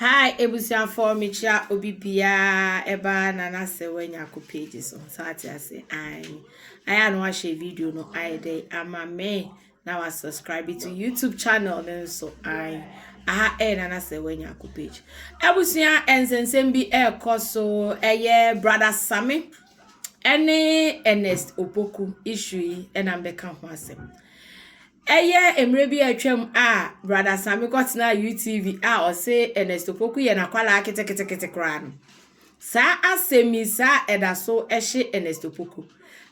Hi ebusuafoɔ mekyira obi biaa ɛba na na sɛ wanya ko page so so ate ase ayi ayɛ ano ahyɛ video no ayɛ dɛ ama me na wa subscribe to YouTube channel no nso ayi aha ɛyɛ na na sɛ wanya ko page abusua ɛnsɛnsɛm bi ɛkɔ so ɛyɛ brother Sami ɛne Ernest Opoku issue yi ɛna mbɛka ho asɛm Ɛyɛ mmerɛ bi a atwam a Brada Asame kɔtenaa UTV a ɔse Ernest Opoku yɛ n'akwadaa ketekete koraa no. Saa asɛmmisa a ɛda so hye Ernest Opoku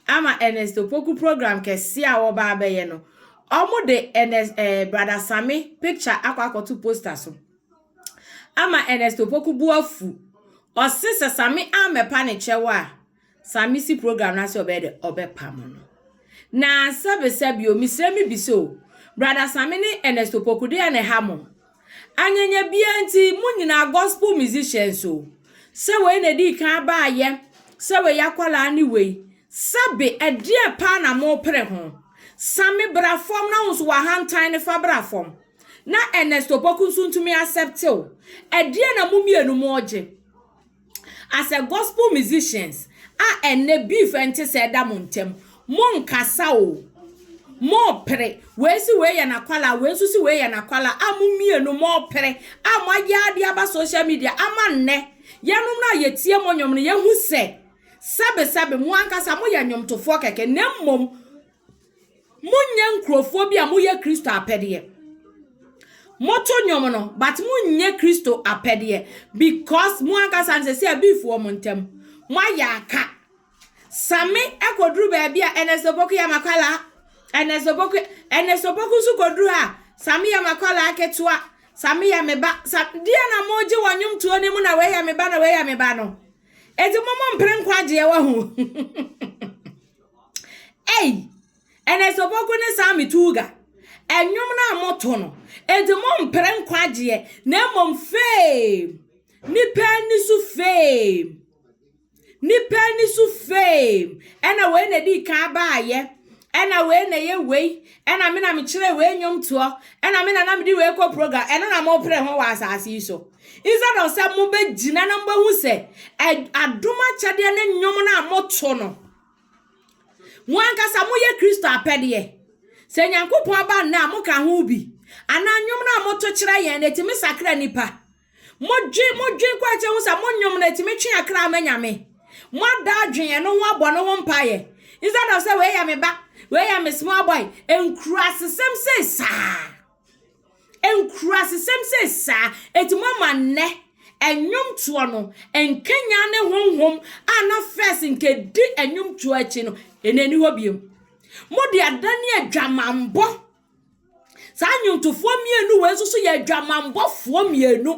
ama Ernest Opoku program kɛseɛ a wɔba abɛyɛ no, wɔde Ernest, eh, Brada Asame picture akɔ akɔto poster so ama Ernest Opoku bo afu. Ɔse sɛ Same ammɛpa ne kyɛw a, Sa me si program no ase ɔbɛyɛ dɛ ɔbɛpam no. Na sɛbesa bio, mesrɛ me bisa o, Brada Same ne Ernest Opoku deɛn na ɛha mo? Anyanya biaa nti mo nyinaa gospel musicians o, sɛ wei na ɛdii kan abaayɛ, sɛ wei akwadaa ne wei, sɛbe ɛdeɛn paa na mopere ho? Same bra fam na wo nso w'ahantan no fa bra fam na Ernest Opoku nso ntumi accept wo. Ɛdeɛn na mo mmienu moregye? As a gospel musicians a ɛnnɛ beef nte sɛ ɛda mo ntam, mo nkasa o, mo pere, wei se wei yɛ n'akwalaa, wei nso se wei yɛ n'akwalaa a mo mmienu mo pere a mo ayɛ ara de aba social media ama nnɛ yɛnom no a yɛtie mo nnwom no yɛhu sɛ sɛbe sɛbe mo ankasa mo yɛ nnwomtofoɔ kɛkɛ na mmom Monyɛ nkurɔfoɔ bi a moyɛ Kristo apɛdeɛ. Moto nnwom no, but monyɛ Kristo apɛdeɛ because mo ankasa no sɛ sɛ abifoɔ mo ntam. Moayɛ aka. Same kɔduru baabi a Ernest Opoku yɛ makwala. Ernest Opoku, Ernest Opoku nso kɔduru ha. Same yɛ makwala ketewa. Same yɛ me ba. Sa, deɛ na mogye wɔ nnwomtoɔ no mu na wei yɛ me ba na wei yɛ me ba no. Eti mo mo mpere nkwagyeɛ wɔ ho. Ei! Ɛnɛ sɛ ɔbɔku ne saa me tuuga, ɛnwom no a moto no, enti mompere nkwagyeɛ, na mmom fame, nipa ani so fame, nipa ani so fame, ɛna wei na ɛdi kan baayɛ, ɛna wei na ɛyɛ wei, ɛna me na mekyerɛ wei nnwomtoɔ, ɛna me na na mede wei kɔ program, ɛno na mopere ho wɔ asase yi so. Instead of sɛ mobɛgyina na mobɛhu sɛ adom akyɛdeɛ ne nnwom no a moto no, mo ankasa moyɛ Kristo apɛdeɛ. Sɛ Nyankopɔn aba nna a moka ho bi, anaa nnwom no a moto kyerɛ yɛn no, ɛtumi sakra nnipa. Modwen, modwen kɔ akyɛ hu sɛ mo nnwom no ɛtumi twe akra ama Nyame. Moada adwen ɛno ho abɔ no ho mpaeɛ. Instead of sɛ wei yɛ me ba, wei yɛ me small boy, nkurasesɛm sei saa. Nkurasesɛm sɛ saa enti moama nnɛ nnwomtoɔ no nkanyan ne honhom a na fɛs nka ɛdi nnwomtoɔ akyi no, ɛnna ɛni hɔ biom. Mode adane adwamammɔ. Saa nnwontofoɔ mmienu wei nso so yɛ adwamammɔfoɔ mmienu.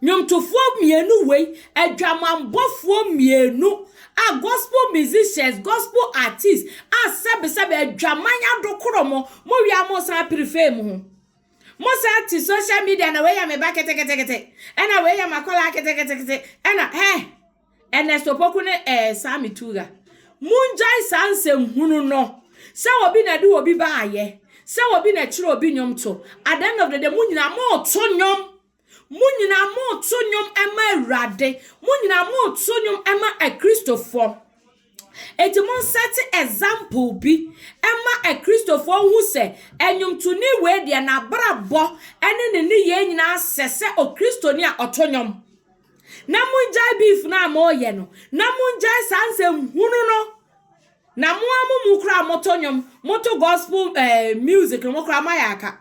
Nnwomtofoɔ mmienu wei, adwamammɔfoɔ mmienu a gospel musicians, gospel artists a sɛbesɛbe adwaman adokoro mo, mo wie a mo san apere fame ho. Mo san te social media na wei yɛ me ba keteketekete, ɛna wei yɛ makɔlaa keteketekete, ɛna hɛn, Ernest Opoku ne eh, Sammy Tuga. Mongyae saa nsɛm hunu no, sɛ obi na de obi ba ayɛ, sɛ obi na kyerɛ obi nnwomto, at the end of the day mo nyinaa moto nnwom. Mo nyinaa moreto nnwom ma Awurade. Mo nyinaa moreto nnwom ma Akristofoɔ. Enti mo nsɛte example bi ma Akristofoɔ hu sɛ nnwomtoni wei deɛ n'abrabɔ ne ne nneyɛɛ nyinaa sɛ sɛ Okristoni a ɔto nnwom. Na mongyae beef no a moreyɛ no. Na mongyae saa nsɛm hunu no. Na mo a mo mu koraa moto nnwom, moto gospel eh, music no mo koraa moayɛ aka.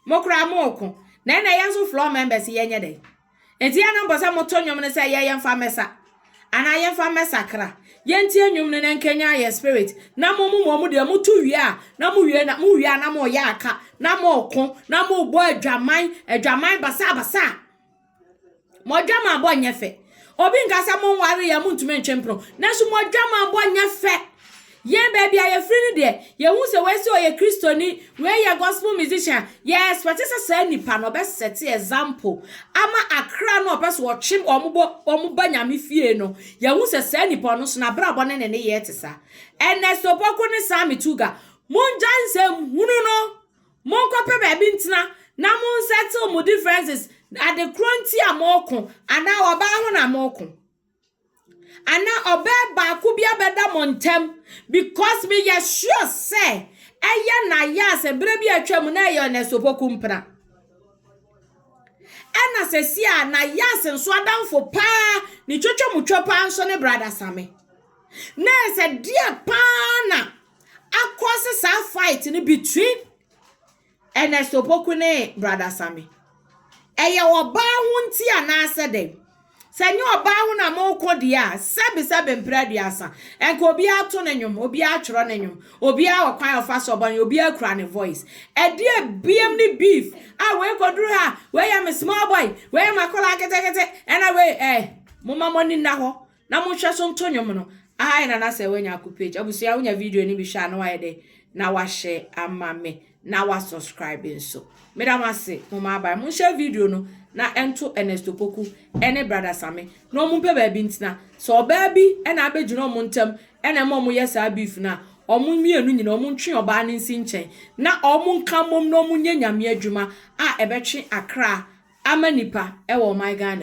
Mo koraa mo reko. Na ɛna yɛn nso floor members yɛnyɛ dɛn? Enti yɛn na mpɔ sɛ mo to nnwom no sɛ yɛ yɛn fa mmɛsa. Anaa yɛn fa mmɛsakra. Yɛn tie nnwom no na ɛnkanyan yɛn spirit. Na mo mo mo deɛ mo to wie a na mo wie na mo wie a na mo reyɛ aka na mo reko na mo rebɔ adwaman adwaman basaa basaa. Mo adwamammɔ nyɛ fɛ. Obi nka sɛ mo nware yɛ mo ntumi ntwe mpono. Nanso mo adwamammɔ nyɛ fɛ. Yɛn baabi a yɛfiri no deɛ, yɛhu sɛ wei sɛ ɔyɛ Kristoni, wei yɛ gospel musician. Yɛ expect sɛ saa nipa no ɔbɛsɛte example ama akra no ɔpɛ sɛ ɔtwe wɔn bɔ wɔn ba nyame fie no. Yɛhu sɛ saa nipa no so n'abrabɔ ne ne nneyɛɛ te saa. Ernesto Poku ne Sammy Tuga, mongyae nsɛm hunu no. Monkɔpɛ baabi ntena na monsettle mo differences, ade korɔ nti a moreko, anaa ɔbaa ho na moreko. Anaa ɔbaa baako bi abɛda mo ntam, because meyɛ sure sɛ ɛyɛ na yɛ a sɛ berɛ bi a atwa mu na ɛyɛ ɔnɛ sopoku mpena. Ɛna sɛsi a na yɛ ase nso adamfo paa ne twatwa mu twa paa nso ne brada same. Na ɛsɛ deɛ paa na. Akɔ se saa fight no between Ernest Opoku ne Brother Sammy. Ɛyɛ ɔbaa ho nti anaasɛ dɛn? Sɛ nyɛ ɔbaa ho na mokɔ deɛ a, sɛbe sɛbe mprɛ aduasa. Ɛnka obiara to ne nnwom, obiara twerɛ ne nnwom, obiara wɔ kwan a ɔfa so ɔbɔ ne obiara kura ne voice. Ɛdeɛ biam ne beef a wei kɔduru ha, wei yɛ me small boy, wei yɛ m'akwadaa ketekete, ɛna wei eh, momma mo ani nna hɔ. Na monhwɛ so nto nwom no. Ae nana sɛ wanya aku page. Abusua wonya video no bi hwɛ a na wayɛ dɛn na wahyɛ ama me na wa subscribe nso. Meda mo ase mo ma abae. Mo nhyɛ video no na ɛnto Ernest Opoku ɛne brother Same na ɔmo mpɛ baabi ntena. Sɛ ɔbaa bi ɛna abɛgyina ɔmo ntɛm ɛna ɛma ɔmo yɛ saa beef no a, ɔmo mmienu nyina ɔmo ntwe ɔbaa no nsi nkyɛn na ɔmo nka mmom na ɔmo nyɛ Nyame adwuma a ɛbɛtwe akra ama nipa ɛwɔ ɔman Ghana mu.